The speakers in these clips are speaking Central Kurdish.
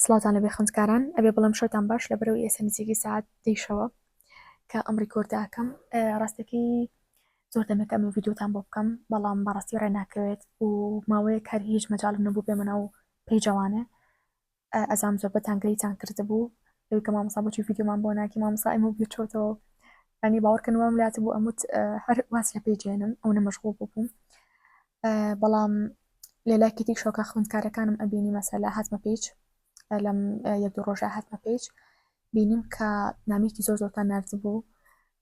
سڵاتان لەبێ خوندکاران ئەبێ بڵم شەوتان باش لە بەرەو ئێسە نزیکی ساعت دیشەوە کە ئەم ڕیکۆردەکەم ڕاستەکەی زۆر دەمەکە ئەمە ڤیددیوتان بۆ بکەم بەڵام بەڕاستی ڕێ ناکەوێت و ماوەیە کار هیچ مەجاالم نەبوو بێمەە و پێی جوانێ ئەزام زۆربەتان گلەیتان کردبوو لەوەی کە مامۆستا بۆچی ڤیدیۆمان بۆ ناکی مامۆستا ئەمە بیر چۆتەوە ئەنی باوەڕکەن وام لات بوو ئەموت هەر واز لە پێجێنم ئەو نەمەشغول ببووم بەڵام لە لایکێتی شۆکە خوندکارەکانم ئەبینی مەسەلا هاتمە پێچ لەم یەک دوو ڕۆژە هاتمە پێچ بینیم کە نامێکی زۆر زۆرتان نردبوو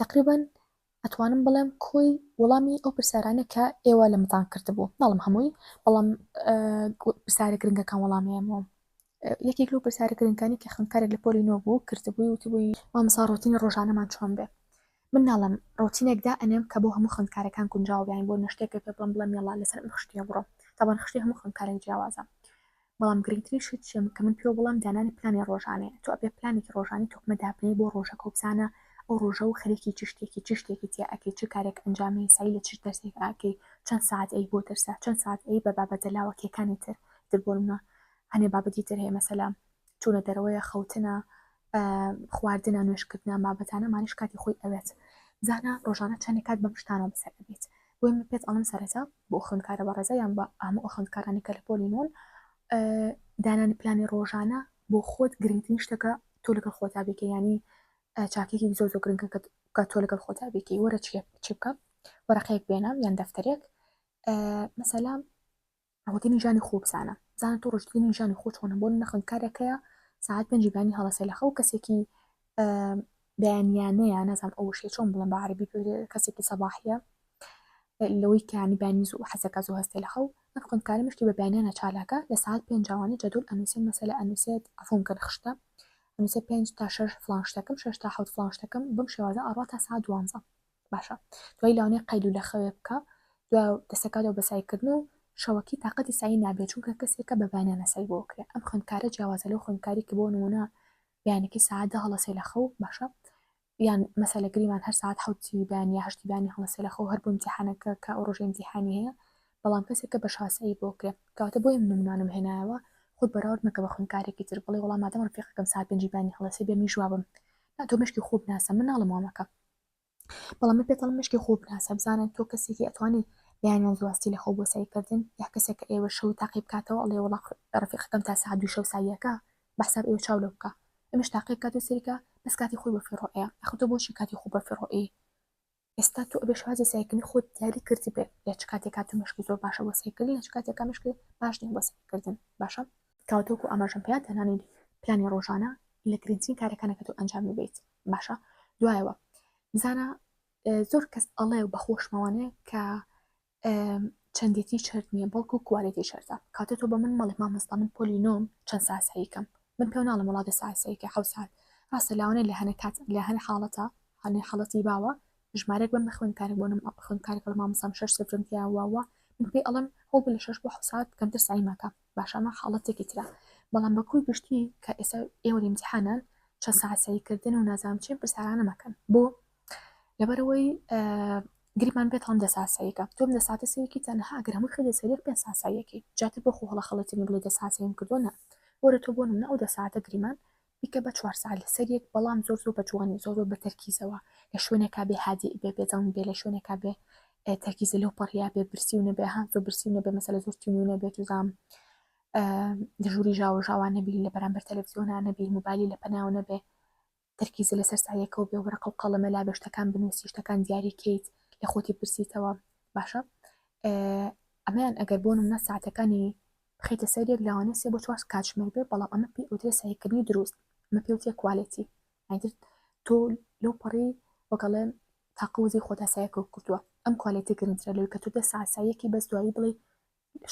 تەقریبەن ئەتوانم بڵێم کۆی وەڵامی ئەو پرسیارانە کە ئێوە لەمتان کردبوو ناڵم هەمووی بەڵام پرسیارە گرنگەکان وەڵامێمەوە یەکێک لەو پرسیارە گرنگەکانی کە خوێندکارێک لە پۆلی نۆ بوو کردبووی وتبووی مامسا ڕۆتینی ڕۆژانەمان چۆن بێ من ناڵم ڕۆتینێکدا ئەنێم کە بۆ هەموو خوێندکارەکان گونجاو بیان بۆ نەشتێکە پێ بڵم بڵم یڵا لەسەر خشتە بڕۆ تاوان خشتی هەموو خوێندکارێک جیاوازە بەڵام گرنگترین شت چیم کە من پێو بڵێم دانانی پلانی ڕۆژانەیە تۆ ئەبێ پلانێکی ڕۆژانی تۆکمە دابنێی بۆ ڕۆژەکە و بزانە ئەو ڕۆژە و خەریکی چ شتێکی چ شتێکی تیا ئەکەی چ کارێک ئەنجامەی سەعی لە چ دەرسێک ئاکەی چەند سەعات ئەی بۆ دەرسە چەند سەعات ئەی بە بابەتە لاوەکیەکانی تر تر بۆ نمونە هەنێ بابەتی تر هەیە مەسەلە چونە دەرەوەیە خەوتنە خواردنە نوێشکردنە بابەتانەمانش کاتی خۆی ئەوێت زانا ڕۆژانە چەندێک کات بەم شتانەوە بەسەر ئەبێت بۆی من پێت ئەڵم سەرەتا بۆ خوندکارە بە ڕێزە یان بە ئامە خوندکارانی کە لە پۆلی نون دانانی پلانی ڕۆژانە بۆ خۆت گرنگترین شتەکە تۆ لەگەڵ خۆتا بێکە ینی چاکێکی زۆر زۆر گرنگە کە تۆ لەگەڵ خۆتا بێکی وەرە چی بکەم وەرەقەیەک بێنم یان دەفتەرێک مەسەلام ڕەوەکەی ژانی خۆ بزانە بزانە تۆ ڕژدینی ژانی خۆ چۆنە بۆ نە خوێندکارێکەیە ساعت پێنجی بانی هەڵەسێ لە خەو کەسێکی بەیانیانەیە نازان ئەو شێ چۆن بڵم بە عربی کەسێکی سەباحە لەوەی کانی بانی زوو حەزەکە زوو هەستێ لە خەو ئەم خوندکارە مشتی بە بەیانیانە چالاکە لە ساعت پێنجوانە جەدول ئەنووسێن مەسەلە ئەنووسێت ئەفۆم کە خشتە ئەنووسێ پێنج تا شش فلان شتەکەم شش تا حوت فلان شتەکەم بم شێوازە ئەڕات تا سا دوانزە باشە دوای لەوانەیە قەیلو لە خەوێ بکا دوای دەسەکاتەوە بە سایکردن و شەوەکی تااقەتی سایی نابێت چونکە کەسێکە بە بەیانیانە سای بۆ کرێ ئەم خوێندکارە جیاوازە لەو خوێندکاری کە بۆ نمونە بەیانەکەی ساعات دە هەڵەسێ لە خەو باشە یان مەسەلە گریمان هەر ساعت حوتی بەیان یا هەشتی بانی هەڵەسێ لە خەو هەر بۆ امتیحانەکە کە ئەو ڕۆژێ امتیحانی هەیە بەڵام کەسێکە بە شاسایی بۆ کرێ کەواتە بۆیە من نمونانم هێنایەوە خود بەراورد مەکە بە خوێندکارێکی تر بڵێ وەڵام مادەم ڕفیقەکەم ساعت پێنجی بانی هەڵەسێ بێ منیش وابم نا تۆ مشکی خۆ بناسە من ناڵم وامەکە بەڵام من پێتەڵم مشکی خۆ بناسە بزانە تۆ کەسێکی ئەتوانی بەیانیان زواستی لە خۆ بۆ سەیرکردن یا کەسێک کە ئێوە شەوی تاقی بکاتەوە ئەڵێ وڵا ڕفیقەکەم تا سا دوو شەو ساویەکە بەحساب ئێوە چاو لە بکە ئەمش تاقی بکات و سەریکە بەس کاتی خۆی بە فیڕۆەیە ئەخۆ تۆ بۆچی کاتی خۆ بە فیڕۆئی ئێستا تۆ ئەبێ شوازی سایکردنی خۆت دیاری کرد بێ یاچ کاتێکا تۆ مشکی زۆر باشە بۆ سایکردن یاچ کاتێکا مشکی باش نیە بۆ سایکردن باشە تاوەتەکو ئاماژەم پێ تەنانیت پلانی ڕۆژانە لە گرنگترین کارەکانە کە تۆ ئەنجامی بیت باشە دوایەوە بزانە زۆر کەس ئەڵێ و بەخۆشمەوانەیە کە چەندێتی شەرت نییە بەڵکو کوالێتی شەرتە کاتە تۆ بە من مەڵێ مامەستا من پۆلی نۆم چەند ساسەیکەم من پێ ناڵم وڵاتە ساسەیکە حو ساعت ڕاستە لاوانێ لە هەنە کات لە هەن حاڵەتە هەنێ حڵەتی باوە ژمارێک بم بخوێن کارێک بۆنم ئەخوێن کارێک لە مامەسام شەر سفرم تیاواوە من پێی ئەڵم هەوڵ لە شەش بۆ حسات کەمتر سعی مەکە باش ئەمە حاڵەتێکی ترە بەڵام بە کۆی گشتی کە ئێستا ئێوە ئیمتحانان چەند ساسەیکردن و نازام چێن پرسیارانە مەکەن بۆ لەبەرەوەی گریمان بێت هەم دەساسەیەەکە تۆم دە ساتە سەرێکی تەنها ئەگەر هەموو خێدە سەرێک پێ ساسایەکی جاتر بۆ خۆڵە خەڵەتنی بڵێ دە ساسەیم کردوە نە وەرە تۆ بۆ منە ئەو دە ساعتە گریمان بیکە بە چوار سەعات لەسەر یەک بەڵام زۆر زۆر بە جوانی زۆر زۆر بە تەرکیزەوە لە شوێنێکا بێ هادی بێ بێزەون بێ لە شوێنێکا بێ تەرکیزە لەو پەڕیا بێ برسی و نەبێ هەم زۆر برسی و نەبێ مەسەلە زۆر تینی و نەبێت و زام دژوری ژاوە ژاوان نەبی لە بەرامبەر تەلەڤزیۆنا نەبی موبایلی لە پەناو نەبێ تەرکیزە لەسەر سایەکەەوە بێ وەرەقە و قەڵەمە لا بێشتەکان بنووسی شتەکان دیاری کەیت لە خۆتی پرسیتەوە باشە ئەمەیان ئەگەر بۆنم نە ساعتەکانی بخەیتە سەر یەک لەوانە سێ بۆ چوار کاتژمێر بێ بەڵام ئەمە پێی ئەوترێ سەیرکردنی دروست ئەمە پێ وترێ کوالێتی ئەتر تۆ لەو پەڕی وەگەڵێ تاقوزی خۆتا سایەکە کردووە ئەم کوالێتی گرنگترە لەوەی کە تۆ دە ساسایەکی بەس دوایی بڵێ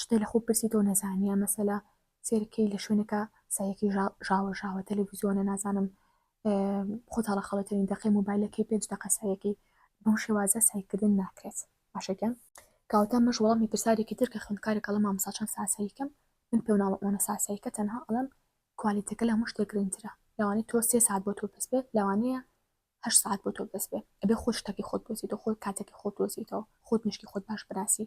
شتێ لە خۆ پرسی تۆ نەزانیە مەسەلا سێرکەی لە شوێنەکە سایەکی ژاوە ژاوە تەلەڤزیۆنە نازانم خۆتاڵە خەڵەتەوین دەقی موبایلەکەی پێنج دەقە سایەکەی بەم شێوازە سایکردن ناکرێت باشەکەم کاوتا مەش وەڵامی پرسارێکی تر کە خوێندکارێک کەڵە مامسا چەند ساساییکەم من پێ ناڵمانە ساساییکە تەنها ئەڵم کوالیتەکە لە هەموو شتێک گرنگترە لەوانی تۆ سێ ساعت بۆ تۆ بەس بێت لەوانەیە هە ساعت بۆ تۆ بەس بێ ئەبێ خۆ شتەکەی خۆت دۆزیتەوە خۆت کاتەکەی خۆت دۆزیتەوە خۆت مشکی خۆت باش بناسی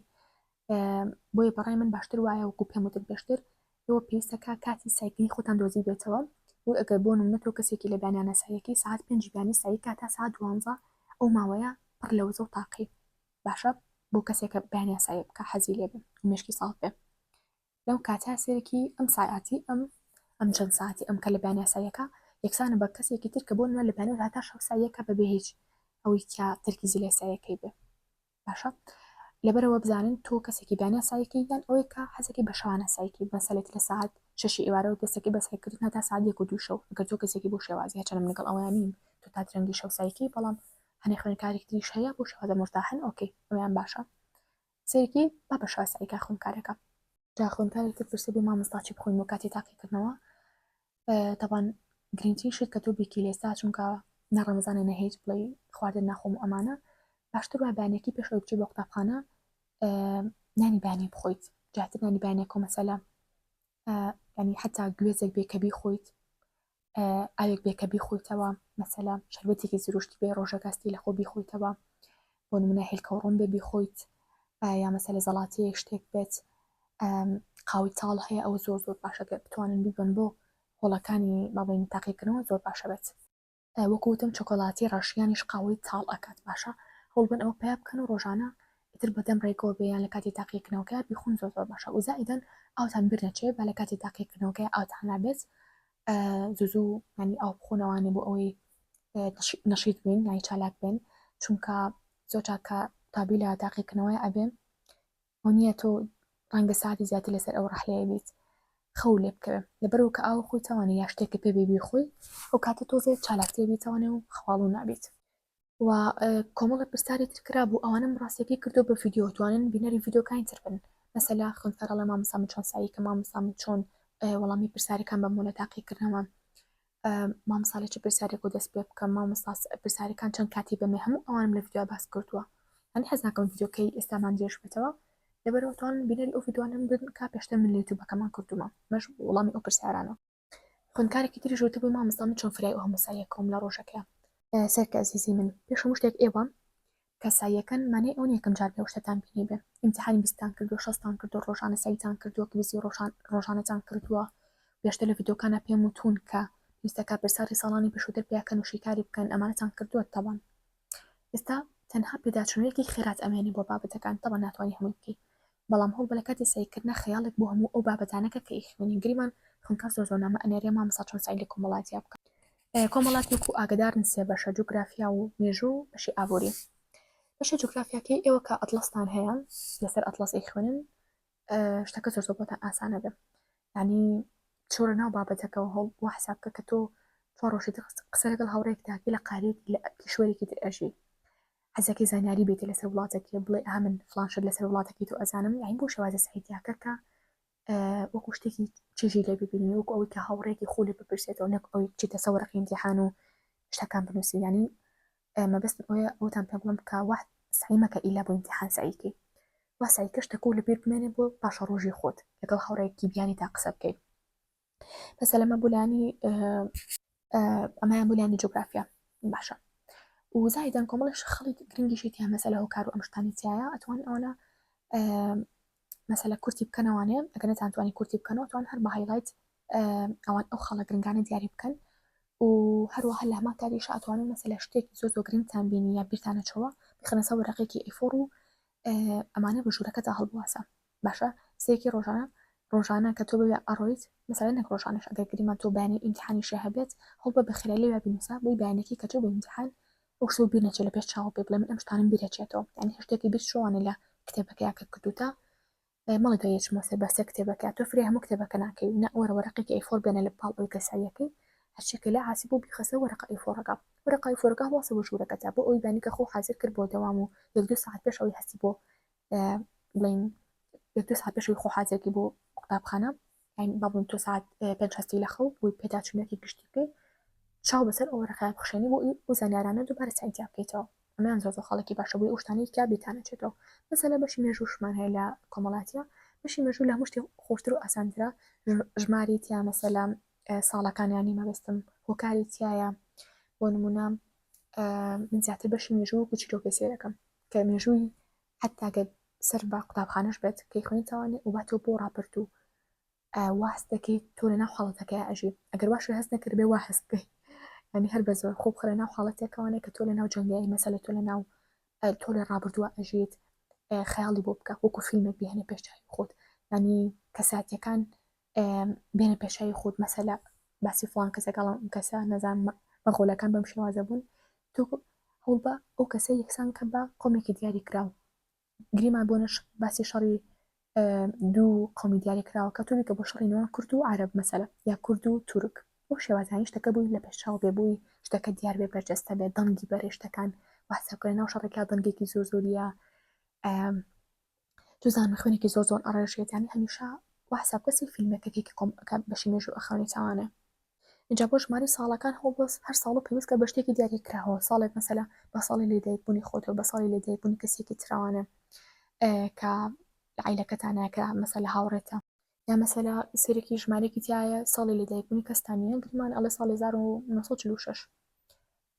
بۆیە بەڕای من باشتر وایە وەکو پێم وتت بێشتر ئێوە پێویستەکە کاتی سایکلی خۆتان دۆزی بێتەوە و ئەگەر بۆ نمونە تۆ کەسێکی لە بیانیانە سایەکەی ساعت پێنج بیانی سایی کاتا ساعت دوانزە ئەو ماوەیە پڕ لە وزە و تاقی باشە بۆ کەسێکە بیانیان سایە بکە حەزی لێ بێ مشکی ساڵ بێ لەو کاتا سێرکی ئەم ساعتی ئەم ئەم چەند ساعتی ئەم کە لە بیانیا سایەکە یەکسانە بە کەسێکی تر کە بۆ نوێ لە بیانە هاتا شەو سایەکە بەبێ هیچ ئەوەی کیا ترکیزی لە سایەکەی بێ باشە لەبەرەوە بزانن تۆ کەسێکی بەیانە سایەکی یان ئەوەیە کە حەزەکەی بە شەوانە سایەکی مەسەلێت لە ساعت شەشی ئێوارەوە دەستەکەی بە سایکردنا تا ساعت یەک و دوو شەو ئەگەر تۆ کەسێکی بۆ شێوازی هەچەنم لەگەڵ ئەوەیان نیم تۆ تا درەنگی شەو سایەکی بەڵام هەنێ خوێنکارێک تریش هەیە بۆ شێوازە مرتاحن ئۆکەی ئەویان باشە سەیرکی با بە شەوە سایکا خوێنکارەکە جا خوێنکارێک تر پرسێ بێ مامۆستا چی بخۆین بۆ کاتی تاقیکردنەوە تەبان گرنگترین شت کە تۆ بێکی لێستا چونکە نە ڕەمەزانە نە هیچ بڵێ خواردن ناخۆم و ئەمانە باشتر وای بەیانێکی پێش ئەوچی بۆ قوتابخانە نانی بەیانێ بخۆیت جاتر نانی بەیانێک و مەسەلا ینی حتا گوێزێک بێکە بیخۆیت ئاوێک بێکە بیخۆیتەوە مەسەلا شەربەتێکی زروشتی بێ ڕۆژەکەستی لە خۆ بیخۆیتەوە بۆ نمونە هێلکە و ڕۆن بێ بیخۆیت یا مەسەلە زەڵاتەیەک شتێک بێت قاوی تاڵ هەیە ئەوە زۆر زۆر باشە گەر بتوانن بیبن بۆ هۆڵەکانی بابین تاقیکردنەوە زۆر باشە بێت وەکوتم چۆکۆلاتی ڕەشیانیش قاوەی تاڵ ئەکات باشە هەڵبن ئەوە پیا بکەن و ڕۆژانە ئیتر بەدەم ڕێکەوە بێیان لە کاتی تاقیکردنەوەکە بیخون زۆر زۆر باشە وزائیدەن ئاوتان بیر نەچێت بە لە کاتی تاقیکردنەوەکە ئاوتان نابێت زوو زوو ینی ئاو بخۆن ئەوانێ بۆ ئەوەی نەشیت بین یانی چالاک بێن چونکە زۆر چاکە قوتابی لە تاقیکردنەوەی ئەبێ ئەو نییە تۆ ڕەنگە ساتی زیاتر لەسەر ئەو ڕحلەیە بیت خەو لێ بکەوێ لەبەرەوە کە ئاو خۆی تاوانە یا شتێکە پێ بێبی خۆی ئەو کاتە تۆزێت چالاکتێ بیتەوانێ و خواڵ و نابیت و کۆمەڵێ پرسیاری تر کرابوو ئەوانم ڕاستیەکەی کردو بە ڤیددیو توانن بینەری ڤیددیوکانی تر بن مەسەلا خوێنفەرەڵە مامسام چۆن سایی کە مامسام چۆن وەڵامی پرسیارەکان بە مۆلە تاقیکردنەوە مامساالە چ پرسیارێک و دەست پێ بکەم مامساس پرسیارەکان چەند کاتی بەمێ هەموو ئەوانم لە ڤیددیو باس کردووە هەن حەزناکەم ڤیددیوکەی ئێستامان درێژ بێتەوە لەبەرەوەتوان بینەری ئەو ڤیددیوانم بن کا پێشتر من لە یوتوبەکەمان کردومە مەش وڵامی ئەو پرسیارانە خوێندکارێکی تریش وتبووی مامۆستا من چۆن فرای ئەو هەموو ساییە کەوم لە ڕۆژەکەیان سەرکە ئەزیزی من پێش هەموو شتێک ئێوە کەساییەکەن مانای ئەو نیەکەم جار بێ شتتان بینی بێ ئیمتحانی بیستان کردو شەستان کردو ڕۆژانە سایتان کردووە کلیزی ڕۆژان ڕۆژانەتان کردووە پێشتە لە یددیوکانە پێم وتون کە پێویستە کاپرساری ساڵانی پێشووتر پیاکەن و شیکاری بکەن ئەمانەتان کردووە تەوان ئێستا تەنها پێداچوونەوەیەکی خێرات ئەمێنێ بۆ بابەتەکان تەوە ناتوانانی هەمووی بکەیت بەڵام هۆ لە کاتی سەعی کردنا خەیاڵێک بۆ هەموو ئەو بابەتانە کە کە ی خوێنی گریمان خوێنکار زۆر زۆر نامە ئەنێرێ مامۆستا چۆن سەعی لە کۆمەڵاتیا بکا. کۆمەڵات وەکو ئاگەدارن سێ بەشە جوگرافیا و مێژوو و بەشی ئابووری بەشە جوگرافیاکەی ئێوە کە ئەتڵەستان هەیە لەسەر ئەتڵەس ی خوێنن شتەکە زۆر زۆر بۆتان ئاسانە بێ ینی چۆرە ناو بابەتەکەەوە هەڵ بۆ حساب کە کە تۆ چۆڕۆشی قسە لەگەڵ هاوڕێکتاکی لە قاریک لە کیشوەرێکی تر ئەژی حەزەکەی زانیاری بێتێ لەسەر وڵاتەکیە بڵێ ئا من فلان شت لەسەر وڵاتەکەی تۆ ئەزانم یاین بۆ شێوازە سعیتیاکەکە وەکو شتێکی چێژی لێ ببینی وەکو ئەوەی کە هاوڕێکی خۆ لێ بپرسێتەوە نەک ئەوی چیتە سەوەرەقی امتحان و شتەکان بنووسی ینی مەبست ئەوە ئەوتان پێ بڵم کە وەحد سعیمەکە ئیلا بۆ امتحان سعیکەی واسای کەشتەکە و لەبیر بمێنێ بۆ پاشە ڕۆژی خۆت لەگەڵ هاوڕێکی بیانی تا قسە بکەیت بەسە لەمە بولانی ئەمایان بولانی جوگرافیا باشە وزایدان کۆمەڵش خەڵی گرنگیشی تیا مەسەلە هۆکار و ئەمشتانی تایە ئەتوان ئەوانە مەسەلە کورتی بکەنەوانێ ئەگەر نەتانتوانی کورتی بکەنەوە توان هەر بە هایلایت ئەوان ئەو خەڵە گرنگانە دیاری بکەن و هەروەها لە هەمان کاری شاتوان و مەسەلە شتێکی زۆر زۆر گرنگتان بینی یا بیرتانەچەوە بخەنەسە وەرەقێکی ئیفۆڕ و ئەمانە بە ژوورەکەدا هەڵبواسە باشە سێکی ڕۆژانە ڕۆژانە کە تۆ بەوێ ئەڕۆیت مەسەلەن نەک ڕۆژانەش ئەگەر گریمان تۆ بەیانی ئیمتیحانی شێ هەبێت هەوڵ بە بەخێرای لێوێ بنووسە بۆی بەیانەکەی کە تۆ بۆ ئیمتیحان ئەو شتەو بیر نەچێت لە پێش چاوە پێ بڵێ من ئەم شتانەم بیر ئەچێتەوە یانی هەر شتێکی بیر شوانێ لە کتێبەکەیا کە کردوتە مەڵی تۆ یەچمەوە سەر بەسێ کتێبەکە تۆ فرێ هەموو کتێبەکە ناکەی و نە وەرە وەرەقێکی ئەیفۆر بێنە لە پاڵ ئەوی کە سەعیەکەی هەرچێکە لە عاسی بۆ بیخەسە وەرەقە ئەیفۆرەکە وەرەقە ئەیفۆرەکە هەڵواسە بۆ ژوورەکەتا بۆ ئەوی بانی کە خۆ حازر کرد بۆ دەوام و یەک دوو سەعات پێش ئەوی هەستی بۆ بڵێین یەک دوو ساعت پێشەوەی خۆ حازێکی بۆ قوتابخانە با بڵێن تۆ ساعت پێنج هەستی لە خەو بۆی پێداچوونەکی گشتی بکەی چاو بەسەر ئەوە ڕخیان بخشێنی بۆ ئەو زانیارانە دووبارە سەعینتیا بکەیتەوە ئەمان زۆر زۆر خەڵکی باشە بۆی ئەوشتانەی کە بێتانەچێتەوە مەسەلە بەشی مێژووشمان هەیە لە کۆمەڵاتە بەشی مێژوو لە مشتی خۆشتر و ئاسانترە ژماری تیا مەسەلا ساڵەکانیانی مەبستم هۆکاری تایە بۆ نمونە من زیاتر بەشی مێژوو گوچیلۆ پێ سێرەکەم کە مێژووی حتا گەر سەر بە قوتابخانەش بێت کەی خوێنیتەوانێ و باتۆ بۆ ڕاپرد و واست دەکەیت تۆ لە ناو حاڵەتەکەی ئەژی ئەگەر واش لە هەست نەکرد بێ وا هەست بکەیت ینی هەر بە زۆر خۆب خرە ناو حاڵەتێکەوانێ کە تۆ لە ناو جەنگی مەسەلە تۆ لە ناو تۆ لە ڕابردووە ئەژیت خەیاڵی بۆ بکە وەکو فیلمێک بهێنە پێشچوی خۆت ینی کەساتەکان بێنە پێشایی خود مەسەلا باسی فلان کەسە گەڵم کەسە نەزان مەغۆلەکان بەم شێوازە بوون تۆ هەوڵ بە ئەو کەسە یەکسان کە بە قۆمێکی دیاری کراوە گریمان بۆ نەش باسی شەڕی دوو قومی دیاری کراوە کە توبی کە بۆ شەڕی نوان کورد و عرب مەسەلە یا کورد و تورک بۆ شێوازانی شتەکە بووی لە پێشاو بێ بووی شتەکە دیار بێ بەرجەستە بێ دەنگی بەرێشتەکان واسەکە ناو شەڕێکا دەنگێکی زۆر زۆریە تو زانم خوێنێکی زۆر زۆر ئەڕێژێت یانی هەمیشە وا حساب کەسی فیلمێک کەکێکی کۆم ئەکات بەشی مێژوو ئەخەونێ چاوانێ اینجا بۆ ژماری ساڵەکان هەوڵ بۆ هەر ساڵ و پێویستکە بە شتێکی دیاری کراوە ساڵێک مەسەلا بە ساڵی لێدایکبوونی خۆتەوە بە ساڵی لێدایکبوونی کەسێکی تراوانێ کە عیلەکەتانە کە مەسەلا هاوڕێتە یا مەسەلا سێرێکی ژمارێکی تایە ساڵی لێدایکبوونی کەستانیان گرمان ئەڵێ ساڵی 1946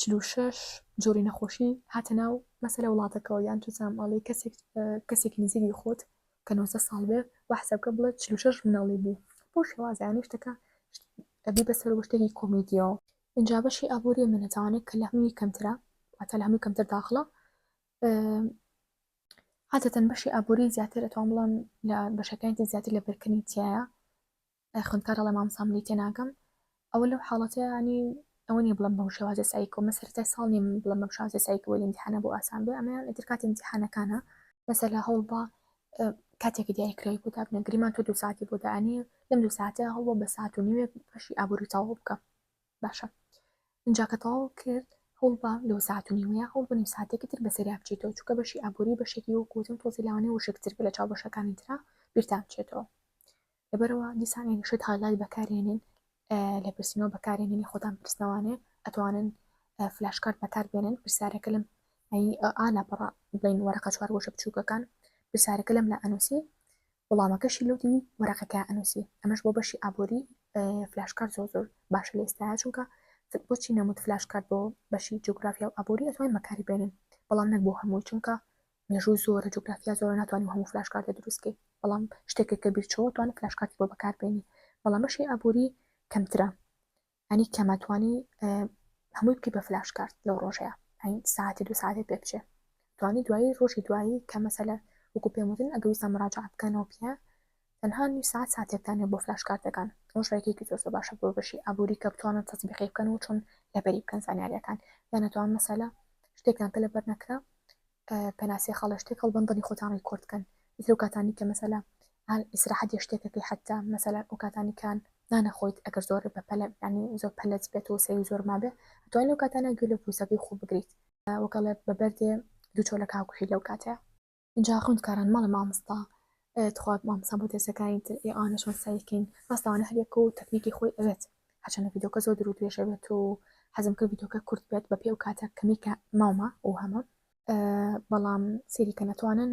چل و شەش جۆری نەخۆشی هاتە ناو مەسەلە وڵاتەکەەوە یان توزانام ئاڵی کەسێک کەسێکی نزیری خۆت کە 90 ساڵ بێ و حسابکە بڵێت چل و شەش مناڵی بوو بۆ شێوازیانی شتەکە ئەبی بەسەر وشتێکی کۆمیدیەوە اینجا بەشی ئابووری منەتوانێت کە لە هەمووی کەمترە واتە لە هەمووی کەمتر داخڵە عادەتەن بەشی ئابووری زیاتر ئەتوان بڵم لە بەشەکانی زیاتر لە بەرکردنی تایە ئەی خوێندکار ئەڵێ مامۆستا منی تێناگەم ئەوە لەو حاڵەتە ینی ئەوە نیە بڵم بەم شێوازە سایکۆ من سەرەتای ساڵ نیم بڵم بەم شازە سایکۆ وەلی امتحانە بۆ ئاسان بێ ئەمەیان ئیتر کاتی امتحانەکانە مەسەلا هەوڵ بە کاتێکی دیاری کرای بۆ دابنە گریمان تۆ دو ساعتی بۆ دانی لەم دو ساعتە هەوڵ بە ساعت و نیوێک بەشی ئابووری تەواو بکە باشە اینجا کە تەواو کرد هەوڵ بە لەو ساعت و نیوەیە هەوڵ بە نیو ساعتێکی تر بەسەریا بچیتەوە چووکە بەشی ئابووری بەشێکی وەکوتم تۆزی لاوانەی وشکتر بە لە چاو بەشەکانی تررا بیرتان بچێتەوە لەبەرئەوە دیسان یانی شت هالایت بەکارێنین لێپرسینەوە بەکارێنینی خۆتان پرسنەوانێ ئەتوانن فلاشکارت بەکار بێنن پرسیارەکە لەم ئالا پڕ بڵین وەرەقە چوار گۆشە بچووکەکان پرسیارەکە لەم لە ئەنووسی وڵامەکەشی لەو دی وەرەقەکە ئەنووسی ئەمەش بۆ بەشی ئابووری فلاشکار زۆر زۆر باشە لە ئێستا چونکە بۆچی نەموت فلاشکارت بۆ بەشی جوگرافیا و ئابووری ئەتوانین بەکاری بێنن بەڵام نەک بۆ هەمووی چونکە مێژوو زۆرە جوگرافیا زۆرە ناتوانیم هەموو فلاش کارتە دروست کەی بەڵام شتێکێک کە بیر چۆوە توانێت فلاش کارتی بۆ بەکار بێنی بەڵام بەشی ئابووری کەمترە ئەنی کەمە توانی هەمووی بکەی بە فلاش کارت لەو ڕۆژەیە ئەین ساعتی دو ساعتی پێ بچێ توانی دوایی ڕۆژی دوایی کە مەسەلە وەکو پێم وتن ئەگەویستان مراجعە بکەنەوە پیە تەنها نیو سەعات ساتێکتان هەیە بۆ فلاش کارتەکان ئەوەش ڕێگەیەکی زۆر زۆر باشە بۆ بەشی ئابووری کە بتوانن تەتبیقی بکەن و چۆن لەبەری بکەن زانیاریەکان یان نەتوان مەسەلە شتێکتان کە لەبەر نەکرا پێناسی خاڵە شتێک هەڵبەن دڵی خۆتان ڕیکۆرد کەن ئیتر و کاتانی کە مەسەلە هەل ئیسراحەت یە شتێکەکەی حتا مەسەلە و کاتانی کان نانەخۆیت ئەگەر زۆر بە پەلە ینی زۆر پەلەت بێت و سەوی زۆر مابێ دوای لەو کاتانە گوێ لە پوسەکەی خۆ بگریت وەکەڵێ بە بەردێ دوو چۆلە کاکوهی لەو کاتەیە جا خوند کاران مەڵێ مامستا تخوا مامسا بۆ دەسەکانی تر ئێ ئانە چۆن سایکەین ڕاستەوانە هەرێک و تەکنیکی خۆی ئەوێت هەچەنە ڤیدۆکە زۆر درو درێژە بێت و حەزم کرد ڤیدۆکە کورت بێت بە پێ و کاتە کەمی کە ماومە و هەمە بەڵام سێریکە نەتوانن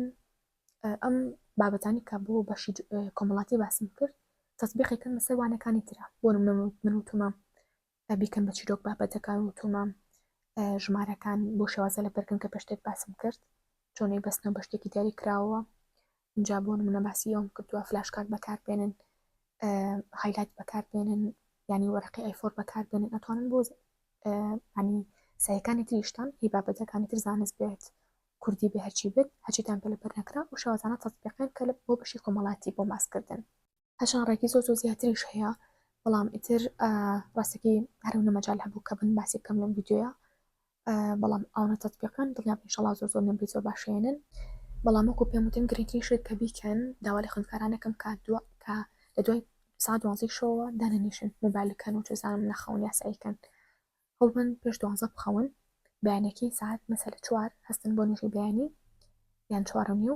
ئەم بابەتانی کە بۆ بەشی کۆمەڵاتی باسم کرد تەسبیقێکن لەسەر وانەکانی ترە بۆ من و تۆمە با بیکەن بە چیرۆک بابەتەکان و تۆمام ژمارەکان بۆ شێوازە لە بەرکن کە پێشتێک باسم کرد چۆنەی بەستنەوە بە شتێکی دیاری کراوە اینجا بۆ منە باسی ئەوم کردووە فلاشکات بەکار بێنن هایلایت بەکار بێنن ینی وەرەقی ئەیفۆر بەکار بێنن ئەتوانن بۆ ینی سایەکانی تریشتان هی بابەتەکانی تر زانست بێت کوردی بە هەرچی بێت هەچیتان پێ لە بەرنەکرا و شێوازانە تەزبیقێن کە بۆ بەشی کۆمەڵاتی بۆ ماسکردن هەشان ڕێکی زۆر زۆر زیاتریش هەیە بەڵام ئیتر ڕاستەکەی هەرونە مەجال هەبوو کە بن باسی بکەم لەم ویددیوە بەڵام ئەوە تەتبیەکان دڵنیا شڵا زۆر زۆر نمری زۆر باشێنن بەڵام وەکو پێم وتن گرنگترین شت کە بیکەن داوا لە خوندکارانەکەم کا دووە کە لە دوای سا دوازی شەوە دانەنیشن موبایلەکەن و چزانم نەخەون یاساییکەن هەڵبن پێش دوازە بخەون بەیانەکەی ساعت مەسەل چوار هەستن بۆ نوێژی بەیانی یان چوارنی و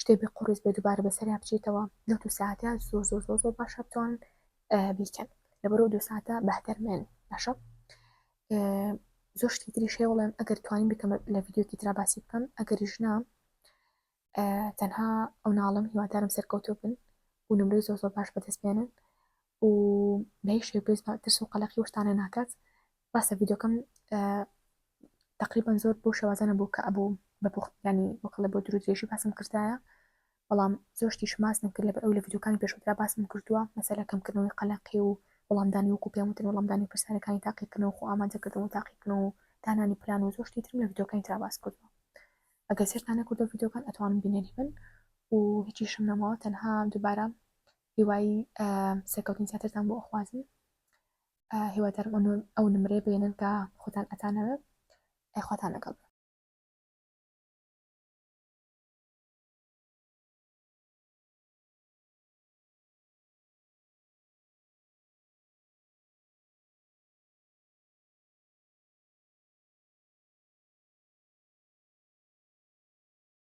شتێ بێ قوڕیس بێ دووبارە بەسەریا بچیتەوە لەو دوو ساعتە زۆر زۆر زۆر زۆر باشە بتوان بیکەن لەبەرەوە دوو ساعتە بەهتەرمێن باشە زۆر شتی تری شێ وڵێم ئەگەر توانین بکەم لە ڤیددیوکی تررا باسی بکەم ئەگەریش نا تەنها ئەو ناڵم هیوادارم سەرکەوتو بن و نمرەی زۆر زۆر باش بەدەست بێنن و بەهیچ شێ پێست ترس و قەلەقی وشتانە ناکات ڕاستە ڤیددیوکەم تقریبان زۆر بۆ شێوازانە بۆ کە ئەبوو بە پوخت ینی وەکڵە بۆ درودێژی باسم کردایە بەڵام زۆشتی شماس نەکرد لە ئەو لە ڤیددیوکانی پێشوترا باسم کردووە مەسەلە کەمکردنەوەی قەلەقی و وەڵامدانی وەکو پێم وتن وەڵامدانی پرسیارەکانی تاقیکردنەوە خۆ ئامادەکردن و تاقیکردن و دانانی پلان و زۆشتی ترم لە ڤیددیوکانی ترا باس کردووە ئەگەر سێرتانە کردو ڤیددیوکان ئەتوانم بینەری بن و هیچیشم نەماوە تەنها دووبارە هیوای سەرکەوتنی زیاترتان بۆ ئەخوازم هیوادارم ئەو نمرەیە بێنن کە خۆتان ئەتانەوە ئەخواتان لەگەڵ